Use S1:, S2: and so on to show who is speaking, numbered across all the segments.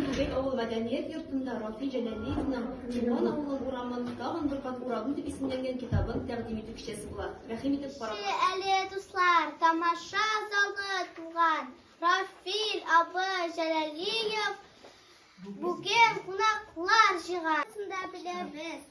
S1: Түбәк авыл мәдәният йортында Рафи Җәләлиевның Чулман авылы урамын тагын бер кат уравын дип исемләнгән китабын тәкъдим итү кичәсе була. Рәхим итеп карагыз. Килегез әле, дуслар,
S2: тамаша залы тулган. Рафил абый Җәләлиев бүген кунаклар җыйган. Барысын да беләбез.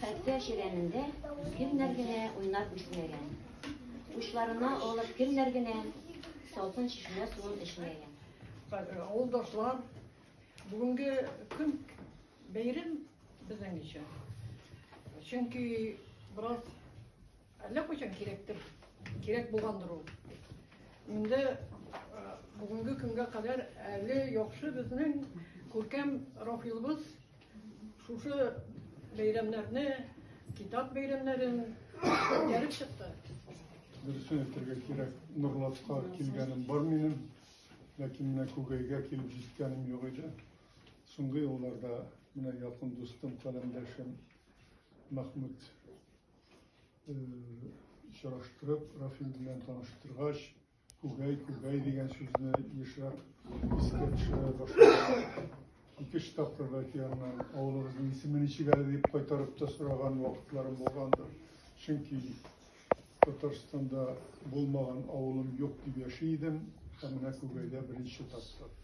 S3: Хәтта чирәмендә кемнәр генә уйнап үсмәгән, учларына алып кемнәр генә салкын чишмә суын эчмәгән.
S4: Авылдашлар, бүгенге көн бәйрәм безнең өчен. Чөнки бераз әллә кайчан кирәктер, кирәк булгандыр ул. Инде бүгенге көнгә кадәр әле яхшы безнең күркәм Рафилыбыз Шушы бәйрәмнәрне, китап бәйрәмнәрен күтәреп чыкты. Дөресен
S5: әйтергә кирәк, Нурлатка килгәнем бар минем, ләкин менә Күгәйгә килеп җиткәнем юк иде. Соңгы елларда менә якын дустым, каләмдәшем Мәхмүт э, очраштырып, Рафил белән таныштыргач, Күгәй, күгәй дигән сүзне ешрак искә төшерә башладым. Ике-өч тапкыр бәлки аннан авылыбызның исеме ничек әле дип кайтарып та сораган вакытларым булгандыр. Чөнки Татарстанда булмаган авылым юк дип яши идем, ә менә Күгәйдә беренче тапкыр.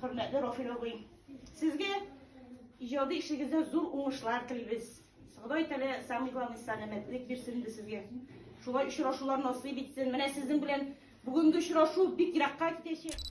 S6: Хөрмәтле Рафил абый, сезгә иҗади эшегездә зур уңышлар телибез. Ходай тәлә самый главный сәламәтлек бирсен инде сезгә. Шулай очрашулар насыйп итсен. Менә сезнең белән бүгенге очрашу бик еракка китәчәк.